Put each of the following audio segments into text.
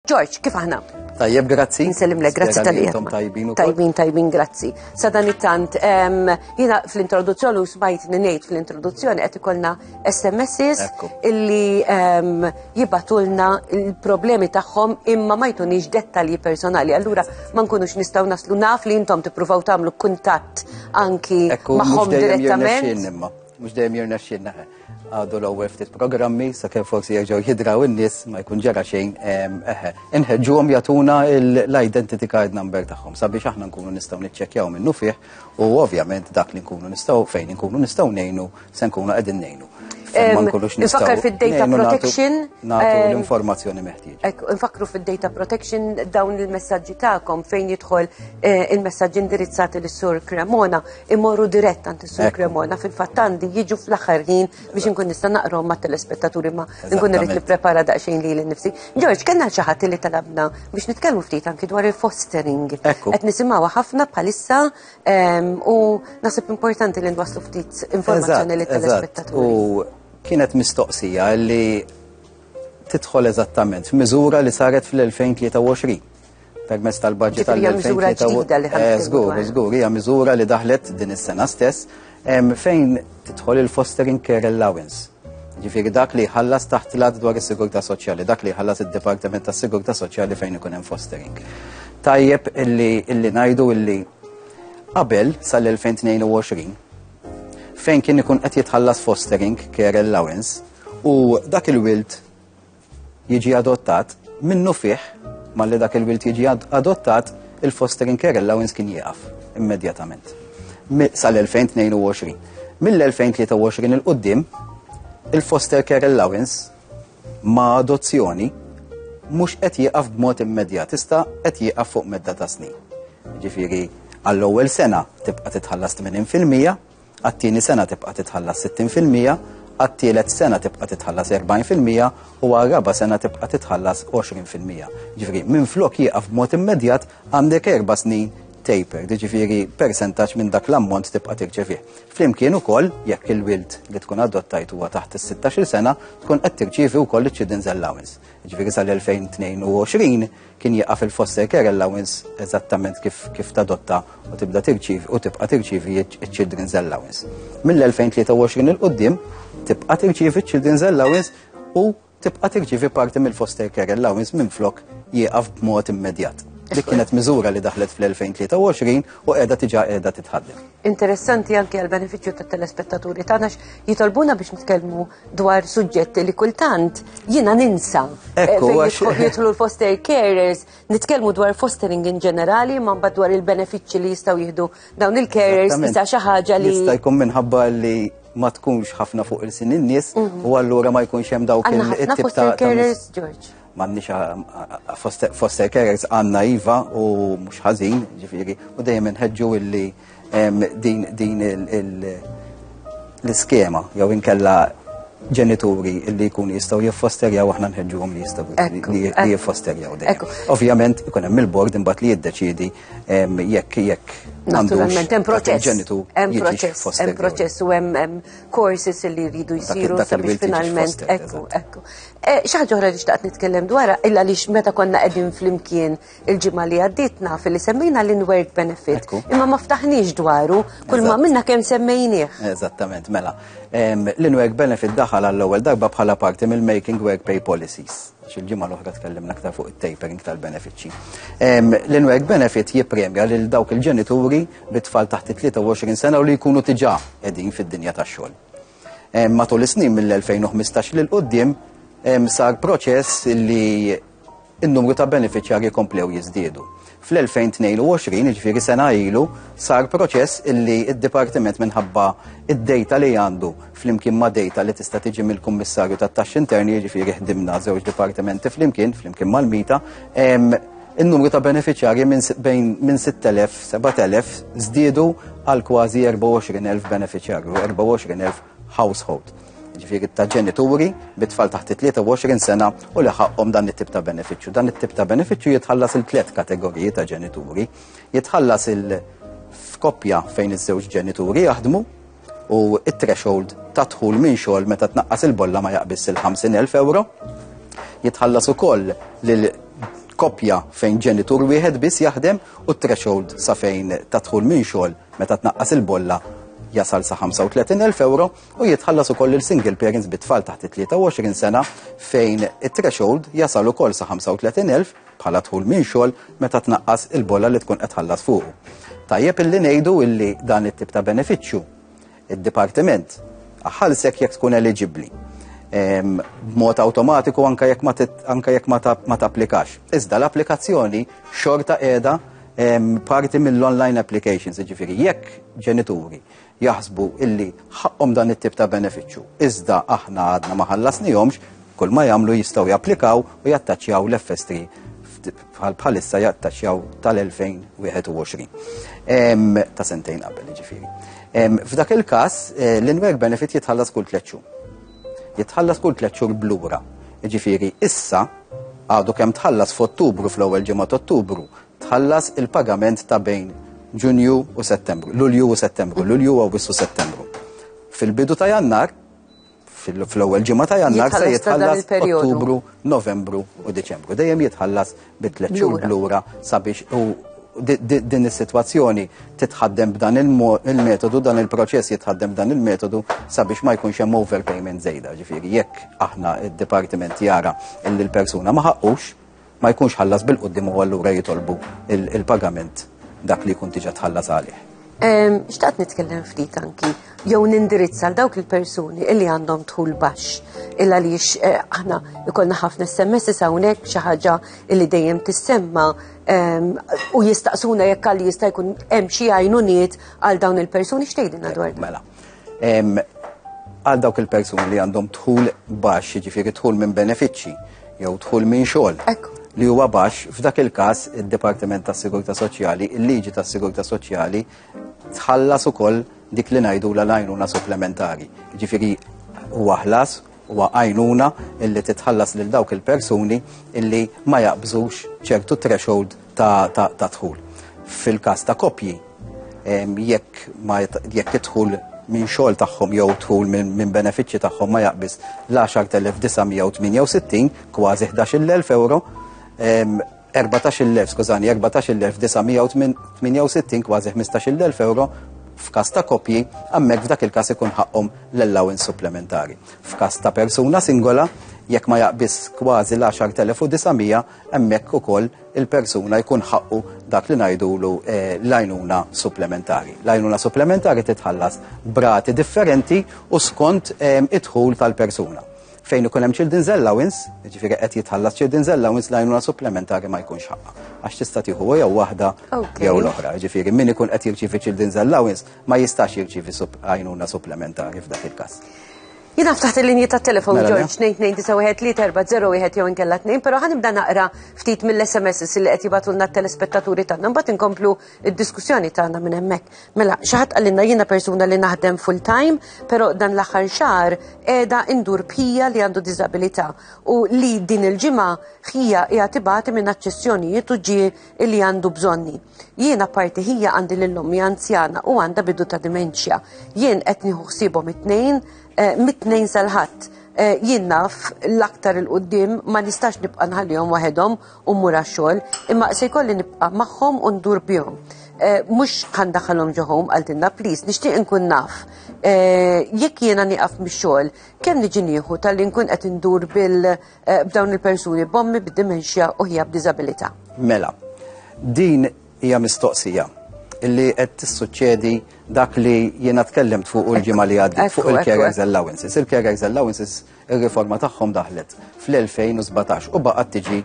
George, kif aħna? Tajjeb, grazzi. Nsellimlek, grazzi tal Intom tajbin u tajbin, tajbin, grazzi. Sadan it-tant, jina fl-introduzzjoni u smajt ninejt fl-introduzzjoni għet ikolna SMSs illi jibatulna il-problemi tagħhom imma ma jtunix dettalji personali. Allura ma nkunux nistaw naslu naf li intom tippruvaw tagħmlu kuntatt anki magħhom direttament. Mux dejjem jirna xinna. Għadu l-ewwel ftit programmi sakemm forsi jerġgħu jidraw in-nies ma jkun ġara xejn eħe. Inħeġġuhom jagħtuna l-identity card number tagħhom sabiex aħna nkunu nistgħu niċċekkjaw minnu fih u ovvjament dak li nkunu nistgħu fejn nkunu nistgħu ngħinu se nkunu qegħdin ngħinu. Nfakkar fil-data protection. Nagħtu eh, l-informazzjoni meħtieġa. Nfakru fil-data protection dawn il-messagġi tagħkom fejn jidħol eh, il-messagġi indirizzati lis-sur Cremona imorru dirett għand is-Sur Cremona fil-fatt għandi jiġu fl-aħħar ħin biex inkun nista' naqrom ma' telespettaturi ma nkun irid nipprepara daqsxejn li nifsi. Ġorġ, kellna xi ħadd li talabna biex nitkellmu ftit anki dwar il-fostering. Qed nisimgħu ħafna bħalissa ehm, u nasib importanti li nwasslu ftit informazzjoni li telespettaturi. U kienet mistoqsija li tidħol eżattament f'miżura li saret fl-2023 permezz tal-budget tal-2023. Żgur, żgur, hija miżura li daħlet din is-sena stess fejn tidħol il-fostering care allowance. Ġifieri dak li ħallas taħt l dwar is-sigurtà soċjali, dak li ħallas id-Dipartiment tas-Sigurtà Soċjali fejn ikun hemm fostering. Tajjeb illi illi ngħidu illi qabel sal-2022 fejn kien ikun qed jitħallas fostering care allowance u dak il-wild jiġi adottat, minnufih malli dak il-wild jiġi adottat, il-fostering care allowance kien jieqaf immedjatament sal-2022. Mill-2023 il-qoddim, il-foster care allowance ma' adozzjoni mhux qed jieqaf b'mod immedjat, tista' qed jieqaf fuq medda ta' snin. Ġifieri għall-ewwel sena tibqa' titħallas 80% għat-tieni sena tibqa' titħallas 60 fil-mija, għat-tielet sena tibqa' titħallas 40 fil-mija u għar-raba' sena tibqa' titħallas 20 fil-mija. Ġifieri, minflok jieqaf b'mod immedjat għandek erba' snin taper, ġifieri persentaġġ minn dak l-ammont tibqa' tirċevih. Flimkien ukoll, jekk il-wild li tkun adottajt huwa taħt is-16-il sena, tkun qed tirċievi wkoll iċ-children's allowance. Ġifieri sal-2022 kien jaqa' fil-foster care allowance eżattament kif kif tadotta u tibda tirċiv u tibqa' tirċivi ċ-children's allowance. Mill-2023 il qudiem tibqa' tirċivi ċ-children's allowance u tibqa' tirċivi parti mill-foster care allowance minn flok jieqaf b'mod immedjat. Dik kienet miżura li daħlet fl-2023 u qiegħda tiġa qiegħda titħaddem. interessanti anke għal beneficju ta' telespettaturi tagħna jitolbuna biex nitkellmu dwar suġġetti li kultant jiena ninsa. Eh, Ekku, jidħlu l-foster carers, nitkellmu dwar fostering in ġenerali, ma mbagħad dwar il-benefiċċji li jistgħu jieħdu dawn il-carers isa xi ħaġa li. Jista' jkun minħabba li ma tkunx ħafna fuq il-sin in-nies mhm. u allura ma jkunx hemm dawk il-tip ta' carers, George. M'għandniex eh, foster carers għandna iva u mhux ħażin, ġifieri, u dejjem inħeġġu illi din l-iskema jew inkella ġenituri illi jkun jistaw jiffosterjaw aħna nħedġuhom li jistaw li jiffosterjaw dejjem. Ovvjament ikun hemm il-bord imbagħad li jiddeċiedi jekk jekk Naturalment, hemm proċess. Hemm proċess, hemm proċess u hemm courses li jridu jsiru sabiex finalment ekku, ekku. Eh, Xaħġa oħra li xtaqt nitkellem dwar illa li meta konna qegħdin flimkien il-ġimgħa li għadditna fil-li semmejna l-inward benefit. Imma ma ftaħniex dwaru, kull ma minna kemm semmejnieh. Eżattament, mela. L-inward benefit daħal għall-ewwel darba bħala parti mill-Making Work Pay Policies. Xil-ġimgħa l-oħra tkellimna aktar fuq it-tapering tal-benefiċċji. L-inward benefit jippremja lil dawk il-ġenituri bit-tfal taħt 23 sena u li jkunu tiġà qegħdin fid-dinja tax-xogħol. Matul is-snin mill-2015 lil quddiem sar proċess li n-numru ta' beneficjari komplew jiżdiedu. Fl-2022, ġifiri sena ilu, sar proċess illi id-Dipartiment minħabba id-dejta li għandu fl-imkien ma' dejta li tista' tiġi mill-Kummissarju tat-Taxxi Interni, ġifiri ħdimna żewġ dipartimenti fl-imkien, fl-imkien mal-Mita, In-numru ta' benefiċjarji minn 6,000, 7,000 żdiedu għal kważi 24,000 benefiċjarju, 24,000 household. Ġifieri ta' ġenituri bi tfal taħt 23 sena u li ħaqqhom dan it-tip ta' benefiċċju. Dan it-tip ta' benefiċċju jitħallas il tliet kategoriji ta' ġenituri. Jitħallas il f'koppja fejn iż-żewġ ġenituri jaħdmu, u t-threshold ta' dħul minn xogħol meta tnaqqas il-bolla ma jaqbiss il-50,000 euro. Jitħallas ukoll lil koppja fejn ġenitur wieħed biss jaħdem u t-threshold sa fejn ta' dħul minn xogħol meta tnaqqas il-bolla jasal sa 35,000 euro u jitħallas ukoll il single parents bit-tfal taħt 23 sena fejn it-threshold jasal ukoll sa 35,000 bħala dħul minn xogħol meta tnaqqas il-bolla li tkun qed tħallas fuqu. Tajjeb illi ngħidu illi dan it-tip ta' benefiċċju id-dipartiment ħalsek jekk tkun eliġibbli b'mod awtomatiku anka jekk ma anka jekk ma tapplikax. Iżda l-applikazzjoni xorta qiegħda parti mill-online applications, jiġifieri jekk ġenituri jaħsbu illi ħaqqhom dan it-tip ta' benefiċċju. Iżda aħna għadna ma ħallasnihomx, kull ma jagħmlu jistgħu japplikaw u jattaċjaw l-FST bħal bħalissa jattaċjaw tal-2021 ta' sentejn qabel ġifiri. F'dak il-każ eh, l-inwerk benefit jitħallas kull tliet xhur. Jitħallas kull tliet xhur blura. Ġifiri, issa għadu kemm tħallas f'Ottubru fl-ewwel ġimgħa Ottubru tħallas il-pagament ta' bejn Ġunju u Settembru, Lulju u Settembru, Lulju u Awwissu Settembru. Fil-bidu ta' Jannar, fl-ewwel ġimgħa ta' Jannar se jitħallas Ottubru, Novembru u Diċembru. Dejjem jitħallas bi tliet xhur lura sabiex u din is-sitwazzjoni titħaddem b'dan il-metodu, dan il-proċess jitħaddem b'dan il-metodu sabiex ma jkunx hemm overpayment żejda. Ġifieri jekk aħna id-dipartiment jara li l-persuna ma ħaqqux, ma jkunx ħallas bil-qoddim u allura jitolbu il-pagament dak li jkun tiġa tħallas għalih. Xtaqt nitkellem ftit anki, jew nindirizza għal dawk il-persuni illi għandhom tħul baxx, illa li eh, aħna jkollna ħafna SMS hawnhekk xi ħaġa illi dejjem tissemma u jistaqsuna jekk għalli jista' jkun hemm xi għajnuniet għal dawn il-persuni x'tgħidilna dwar. Mela, Għal dawk il-persuni li għandhom dħul baxx, jiġifieri dħul minn benefiċċji jew dħul minn xogħol li huwa baxx, f'dak il-każ id-Dipartiment tas-Sigurtà Soċjali, il-liġi tas-Sigurtà Soċjali tħallas ukoll dik li ngħidu l-għajnuna supplementari. Jiġifieri huwa ħlas Huwa għajnuna illi titħallas lil dawk il-persuni illi ma jaqbżux ċertu threshold ta' dħul. Fil-każ ta' koppji, jekk jekk idħul minn xogħol tagħhom jew dħul minn benefiċċji tagħhom ma jaqbiż l-10,968 kważi 11,000 euro, Erbatax-il elf, skużani, erbatax-il elf disa' mija u tminja u sittin, kważi ħmistax-il elf ewro, f'każ ta' koppji, hemmhekk f'dak il-każ ikun ħaqqhom l-allowance supplementari. F'każ ta' persuna singola, jekk ma jaqbiżx kważi l-għaxart elef u disa' mija, hemmhekk ukoll il-persuna jkun ħaqqu dak li ngħidulu l-għajnuna supplementari. L-għajnuna supplementari titħallas b'rati differenti u skont id-dħul tal-persuna. Fejn ikun hemm children's allowance, jiġifieri qed jitħallas children's allowance l-għajnuna supplementari ma jkunx ħaqqa. Għax tista' tieħu jew waħda jew l-oħra. Jiġifieri min ikun qed jirċievi children's allowance ma jistax jirċievi għajnuna supplementari f'dak il-każ. Jina ftaħt il-linji ta' telefon mela, George 2291301 jew inkella 2, pero ħanibda naqra ftit mill-SMS li qed jibatulna t-telespettaturi tagħna mbagħad inkomplu id-diskussjoni tagħna minn hemmhekk. Mela, xi ħadd qalilna jiena persuna li naħdem full time, però dan l-aħħar xahar qiegħda indur bħija li għandu diżabilità u li din il-ġimgħa ħija hija tibati minn aċċessjonijiet u ġie li għandu bżonni. Jiena parti ħija għandi lil ommi anzjana u għandha bidu ta' dimenċja. Jien qed nieħu ħsiebhom it-tnejn, eh, mit-tnejn sal-ħadd eh, jien naf l-aktar il-qoddim ma nistax nibqa' nħallihom waħedhom u mmur għax-xogħol, imma se jkolli nibqa' magħhom u ndur bihom. Eh, mhux kan daħalhom ġoħom għal dinna, please, nixtieq inkun naf. Eh, jekk jiena nieqaf mix-xogħol, kemm niġi nieħu tal-li nkun qed indur bil eh, b'dawn il-persuni bommi b'dimensja u ħija b'diżabilità. Mela, din hija mistoqsija illi qed tissuċċedi dak li jiena tkellimt fuq il-ġimgħa li għaddi fuq il-care allowances. Il-care allowances Ir-riforma tagħhom daħlet fl-2017 u baqgħet tiġi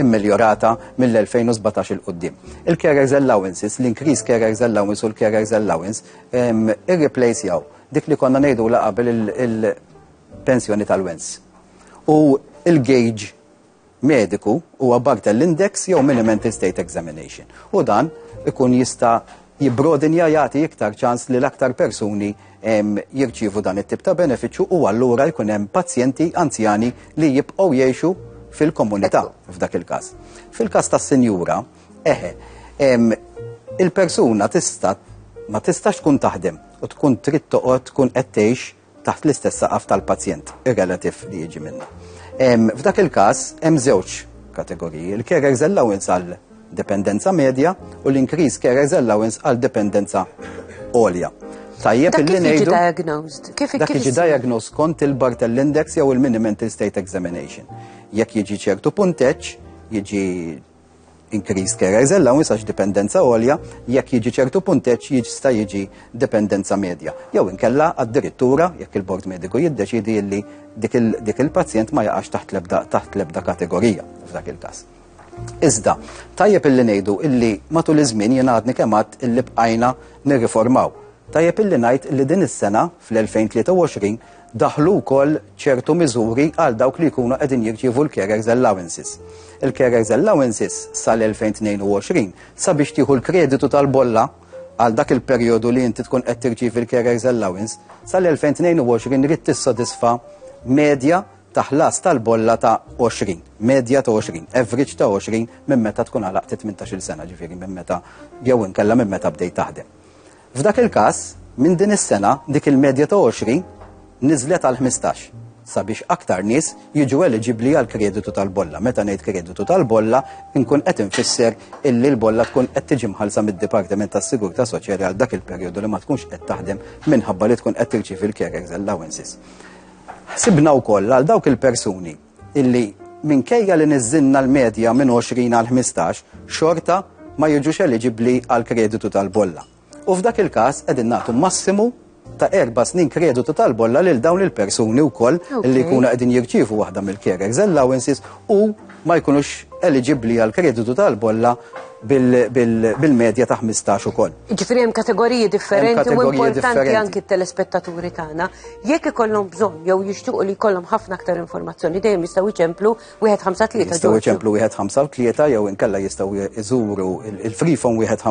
immiljorata mill-2017 il qudiem Il-carers allowances, l-increase carers allowance u l-carers allowance irreplacejaw dik li konna ngħidu la qabel il-pensjoni tal-wens. U il-gauge mediku huwa Barthel Index jew Mini-Mental State Examination u dan ikun jista' jibbrodinja jagħti iktar ċans li l-aktar persuni jirċievu dan it-tip ta' benefiċċju u allura jkun hemm pazjenti anzjani li jibqgħu jgħixu fil-komunità f'dak il-każ. Fil-każ tas-sinjura, eħe, il-persuna tista' ma tistax tkun taħdem u tkun trid toqgħod tkun qed tgħix taħt l-istess saqaf tal-pazjent, ir-relativ li jiġi minna. F'dak il-każ hemm żewġ kategoriji, il-carers allowance għal dependenza medja u l-increase carers allowance għal dependenza għolja. Tajjeb illi ngħidu. diagnosed? Kif dak jiġi diagnosed kont il-Bartell Index jew il-Mini Mental State Examination. Jekk jiġi ċertu punteċ, jiġi increased care is allowance għax dipendenza għolja jekk jiġi ċertu punteġġ jista' jiġi dipendenza medja. Jew inkella addirittura jekk il-bord mediku jiddeċidi li dik il-pazjent ma jaqax taħt lebda taħt lebda kategorija f'dak il-każ. Iżda, tajjeb illi ngħidu illi matul iż-żmien jien għadni kemm għad illi bqajna nirriformaw. Tajjeb illi ngħid illi din is-sena fl-2023 daħlu wkoll ċertu miżuri għal dawk li jkunu qegħdin jirċievu l-carers allowances. Il-carers allowances sal-2022 sabiex tieħu l-kreditu tal-bolla għal dak il-perjodu li inti tkun qed tirċievi l-carers allowance sal-2022 rid tissodisfa medja ta' ħlas tal-bolla ta' 20, medja ta' 20, average ta' 20 minn meta tkun għalaq 18 sena ġifieri minn meta jew inkella minn meta bdejt taħdem. F'dak il-każ, minn din is-sena dik il-medja ta' 20 niżlet għal 15 sabiex aktar nies jiġu eliġibbli għal kreditu tal-bolla. Meta ngħid kreditu tal-bolla, inkun qed infisser illi l-bolla tkun qed tiġi mħallsa mid-Dipartiment tas-Sigurtà Soċjali għal dak il-perjodu li ma tkunx qed taħdem minħabba li tkun qed tirċievi l-carers allowances. Ħsibna wkoll għal dawk il-persuni illi minkejja li niżżilna l-medja minn 20 għal 15, xorta ma jiġux eliġibbli għal kreditu tal-bolla. U f'dak il-każ qegħdin nagħtu massimu ta' erba' snin kreditu tal-bolla lil dawn il-persuni wkoll li jkunu qegħdin jirċievu waħda mill-carers allowances u ma jkunux eliġibbli għal kreditu tal-bolla bil-medja ta' 15 ukoll. Ġifieri hemm kategoriji differenti u importanti anki t-telespettaturi tagħna. Jekk ikollhom bżonn jew jixtiequ li jkollhom ħafna aktar informazzjoni dejjem jistgħu jċemplu wieħed ħamsa tlieta. Jistgħu jċemplu wieħed ħamsa tlieta jew inkella jistgħu jżuru il-frifon wieħed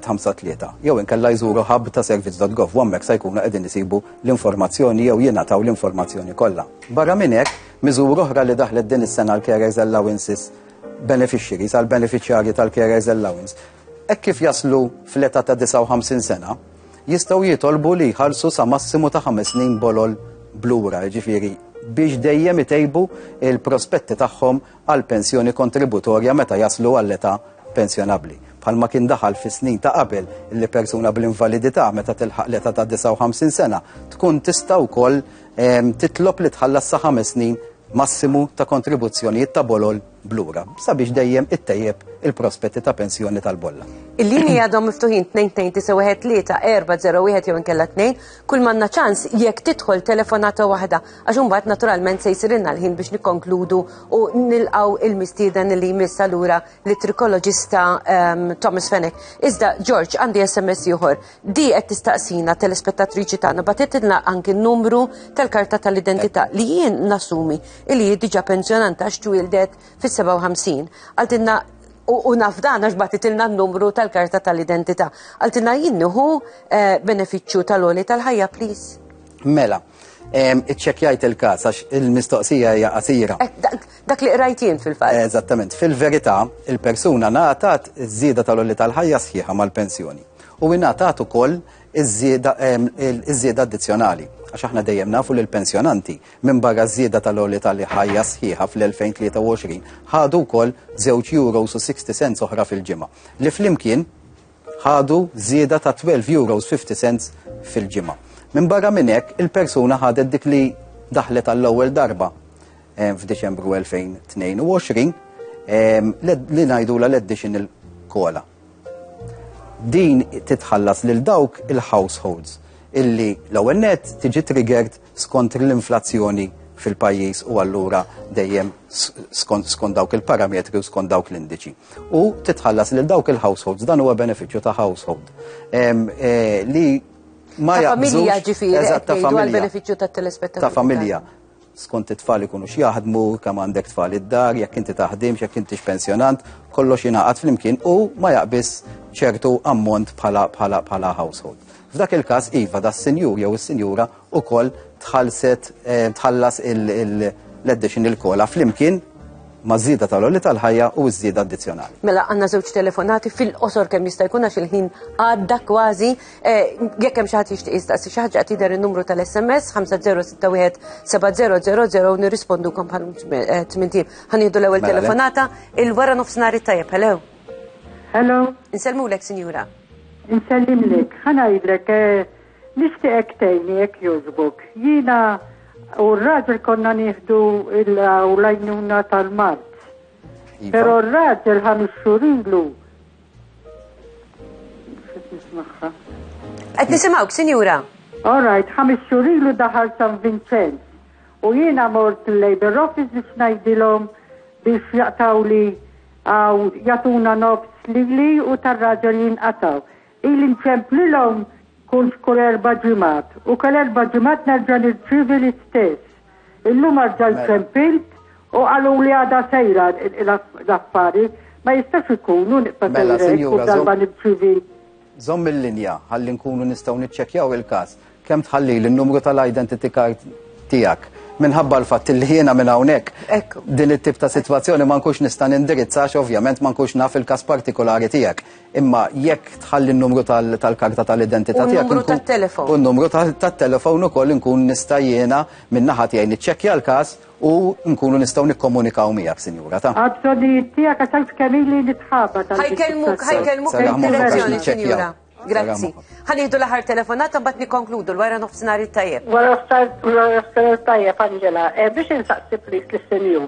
ħamsa tlieta. Jew inkella jżuru hub ta' servizz.gov u hemmhekk se jkunu qegħdin isibu l-informazzjoni jew jingħataw l-informazzjoni kollha. Barra minn hekk, miżur oħra li daħlet din is-sena l-Carers Allowances beneficiaries għal beneficjarji tal-Carers Allowance Hekk kif jaslu fl-età ta' 59 sena, jistgħu jitolbu li jħallsu sa massimu ta' ħames snin bolol blura, jiġifieri biex dejjem itejbu il-prospetti tagħhom għal pensjoni kontributorja meta jaslu għall-età pensjonabbli. Bħalma kien daħal fis-snin ta' qabel li persuna bl-invalidità meta tilħaq l-età ta' 59 sena tkun tista' wkoll ehm, titlob li tħallas sa ħames snin massimu ta' kontribuzzjonijiet ta' bolol b'lura sabiex dejjem ittejjeb il-prospetti ta' pensjoni tal-bolla. Il-lini għadhom miftuħin 2-2-9-1-3-4-0-1 jew inkella 2, kull manna ċans jekk tidħol telefonata waħda, għax imbagħad naturalment se jsirilna l-ħin biex nikkonkludu u nilqaw il-mistieden li jmiss allura li trikoloġista ehm, Thomas Fenech. Iżda, George, għandi SMS ieħor. Di qed tistaqsina telespettatriċi tagħna batitilna anki n-numru tal-karta tal-identità li jien nasumi li hi diġà pensjonant għax twieldet fis-57. Għaltilna u naf dan għax batitilna n-numru tal-karta tal-identità. Għaltilna jien nieħu eh, benefiċċju tal-oli tal-ħajja please. Mela, iċċekjajt il-kas għax il-mistoqsija hija qasira. Eh, dak li qrajt jien fil-fatt. Eżattament, fil-verità, il-persuna ngħatat iż-żieda tal-oli tal-ħajja sħiħa mal-pensjoni. u ingħatat ukoll iż-żieda addizzjonali għax aħna dejjem nafu li l-pensjonanti minn barra żieda tal-għoli tal-ħajja sħiħa fl-2023 ħadu wkoll żewġ euros u 60 cents oħra fil-ġimgħa li flimkien ħadu żieda ta' 12 euros 50 cents fil-ġimgħa. Minn barra minn hekk il-persuna ħadet dik li daħlet għall-ewwel darba eh, f'Diċembru 2022 eh, li ngħidula l-additional kola. Din titħallas lil dawk il-households illi l-ewwel net tiġi triggered skont l-inflazzjoni fil-pajjiż u allura dejjem skont dawk il-parametri u skont dawk l-indiċi. U titħallas lil dawk il-households, dan huwa benefiċċju ta' household. Eh, li ma jaqbżux. Familja ġifieri, ta' familja. Ta' familja. skont it-tfal ikunu x'jaħdmu, kemm għandek tfal id-dar, jekk inti taħdimx, jekk intix pensjonant, kollox jingħaqad flimkien u ma jaqbis ċertu ammont bħala bħala bħala household. F'dak il-każ iva da sinjur jew is-sinjura ukoll tħallset eh, tħallas l-additional kola flimkien ma' żieda tal-għolli tal-ħajja u ż-żieda addizzjonali. Mela għandna żewġ telefonati fil-qosor kemm jista' jkun għax il-ħin għadda kważi Eh, jekk hemm xi ħadd jixtieq jistaqsi xi ħaġa qed jidher in-numru tal-SMS 50617000 nirrispondukom bħal eh, tmintim. Ħanieħdu l-ewwel mela, telefonata il-wara nofsinhar it-tajjeb. Hello. Hello. Insellmulek, sinjura. Insellimlek, ħanajdlek eh, nixtieqek tgħinni jekk jogħġbok. Jiena u r-raġel konna nieħdu l-lajnuna tal-mart. Iva. Però r-raġel ħames xhur Qed nisimgħuk, sinjura. All right, ħames xhur ilu daħal San Vincent. U jiena mort l-Labor Office biex ngħidilhom biex jaqtaw li għaw jatuna nofs li li u tar-raġel jinqataw. Il inċemplilhom kull kull erba ġimat u kull erba ġimat nerġa' nirċivi l-istess. Illum għarġajt mela. tempilt u għalu li għada sejra l-affari ma jistax ikunu niqta mela, sejrek u darba nibċivi. Zom il-linja għalli nkunu nistaw nitċekjaw il-kas kem tħalli l-numru tal-identity card tijak minħabba l-fatt li jiena minn hawnhekk din it-tip ta' sitwazzjoni ma nkunx nista' nindirizzax ovvjament ma nkunx naf il-każ partikolari tiegħek. Imma jekk tħalli n-numru tal-karta tal-identità tiegħek. U n-numru tat-telefon. U n-numru tat-telefon ukoll inkun nista' jiena minn naħa tiegħi niċċekkja l-każ u nkunu nistgħu nikkomunikaw miegħek, sinjura ta'. Għabżonijiet tiegħek għax għal kemili li tħabba tal. Ħajkellmuk, ħajkellmuk il-direzzjoni, sinjura. Grazzi. Ħaniħdu l-aħħar telefonata mbagħad nikkonkludu l-wara nofsinhar it-tajjeb. Wara nofsinhar tajjeb, Angela, eh, biex insaqsi plis lis-sinjur.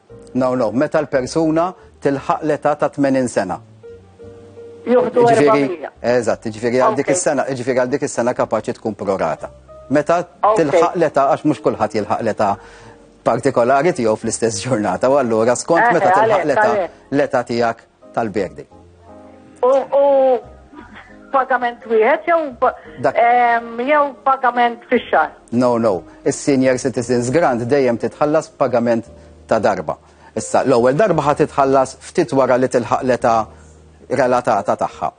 No, no, meta l-persuna tilħaq l-età ta' 80 sena. Joħdu Eżatt, ġifieri għal dik is-sena, ġifieri għal dik is-sena kapaċi tkun prorata. Meta tilħaq l-età għax mhux kulħadd jilħaq l-età partikolari tiegħu fl-istess ġurnata u allura skont meta tilħaq l-età l-età tiegħek tal-birthday. U pagament wieħed jew jew pagament fix-xahar? No, no. Is-senior citizens grant dejjem titħallas pagament ta' darba. Issa, l-ewwel darba ħad titħallas ftit wara li tilħaq l-età relatata tagħha.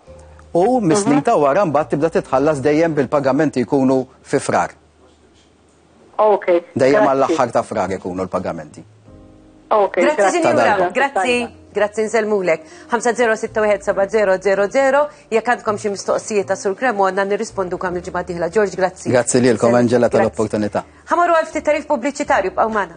U mis-snin mhm. ta' wara mbagħad tibda titħallas dejjem bil-pagamenti jkunu fi frar. Ok. Dejjem għall-aħħar ta' frar ikunu l-pagamenti. Ok. Grazzi sinjura, grazzi. Grazzi nselmulek. 5061700 jekk għandkom xi mistoqsijiet ta' Sur Cremona nirrispondu kam il-ġimgħa diħla. George, grazzi. Grazzi lilkom Angela tal-opportunità. Ħamorru għal ftit tarif pubbliċitarju b'qaw magħna.